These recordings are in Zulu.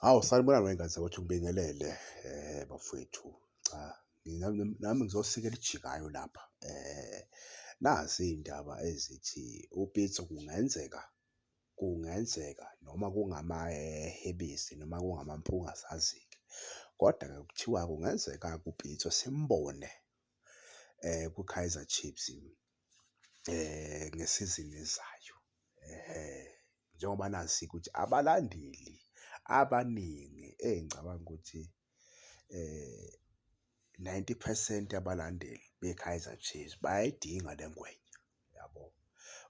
Hawu sanibona ngengane ukuthi ngibingelele bafwethu. Cha mina nami ngizosika elijikayo lapha. Nazi iy'ndaba ezithi uPitso kungenzeka, kungenzeka noma kungamahebisi noma kungamampunge asazi-ke. Kodwa-ke kuthiwa kungenzeka-ke uPitso simbone kwiKaizer Chiefs. ngesizini ezayo. Njengoba nazi ukuthi abalandeli abaningi engicabanga ukuthi ninety phesenti yabalandeli beKaizer Chiefs bayayidinga le ngwenya, yabo.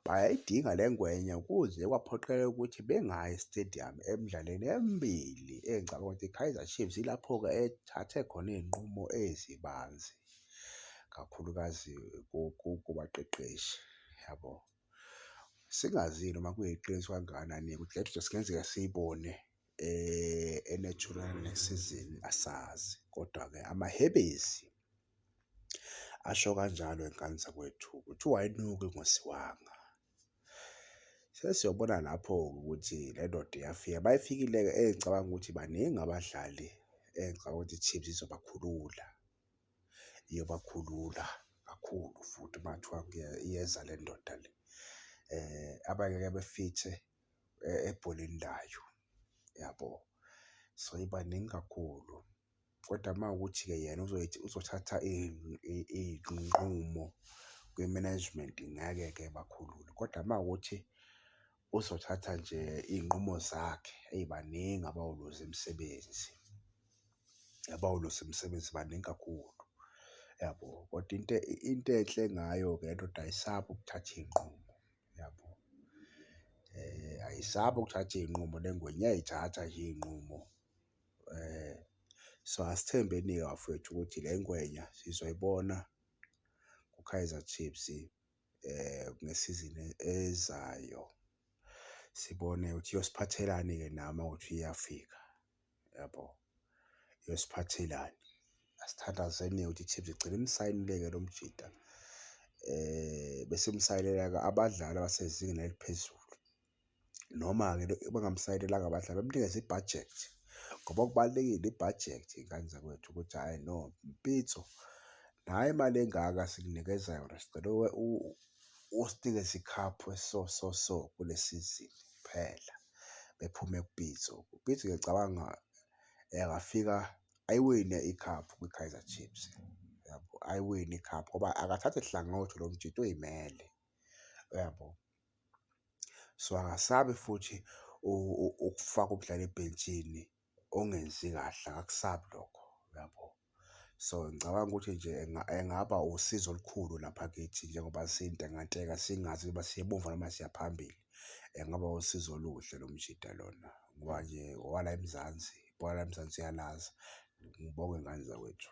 Bayayidinga le ngwenya kuze kwaphoqelela ukuthi bengayi estediyamu emdlalweni emibili engicabanga ukuthi iKaizer Chiefs ilapho-ke ethathe khona iy'nqumo ezibanzi. kakhulukazi kubaqeqeshi yabo. Singazile noma kuyiqiniso kangakanani kudla kungenzeka siyibone e-natural next season asazi, kodwa-ke amahebezi asho kanjalo ey'nganini zakwethu kuthiwa ayinuki ngosiwanga. Sesiyobona lapho-ke ukuthi le ndoda iyafika. Uma ifikile-ke engicabanga ukuthi baningi abadlali engicabanga ukuthi i-Chiefs izobakhulula. Iyobakhulula kakhulu futhi uma kuthiwa iyeza le ndoda le. Abanye ke befithe ebholeni layo, yabo? So ibaningi kakhulu. Kodwa uma kuwukuthi-ke yena uzothatha iy'nqumo kwi-management ngeke-ke ebakhulule kodwa uma kuwukuthi uzothatha nje iy'nqumo zakhe, eyi baningi abawuluzi imisebenzi, abawuluzi imisebenzi baningi kakhulu, yabo. Kodwa into into enhle ngayo-ke le ndoda ayisabi ukuthatha iy'nqumo, yabo. Ayisabi ukuthatha iy'nqumo le ngwenya iyay'thatha nje iy'nqumo So asithembeni-ke bafwethu ukuthi le ngwenya sizoyibona kuKaizer Chiefs ngesizini ezayo. Sibone ukuthi iyosiphathelani-ke na uma kuwukuthi iyafika, yabo? Iyosiphathelani? Asithandazeni-ke ukuthi i-Chiefs igcine imsayinile-ke lo mjita bese imsayinela-ke abadlali abasezingeni eliphezulu. Noma-ke bangamsayinelanga abadlali bamnikeze i-budget ngoba kubalulekile i-budget y'ngane zakwethu ukuthi hhayi no Pitso nayi imali engaka sikunikeza yona sicela usinikeze ikhaphu eso so so kule sizini kuphela. Bephume kuPitso, uPitso ngiyacabanga engafika ayiwine ikhaphu kwiKaizer Chiefs uyabo? Ayiwine ikhaphu ngoba akathathi hlangothi lo mjita uy'mele uyabo? So akasabi futhi ukufaka ukudlala ebhentshini ongenzi kahle akakusabi lokho, uyabo? So ngicabanga ukuthi nje engaba usizo olukhulu lapha kithi njengoba sintekanteka singazi ukuba siya emuva noma siya phambili. Engaba usizo oluhle lo mjita lona ngoba nje owala eMzansi, ibhola laseMzansi uyalazi. Ngibonge ngane zakwethu.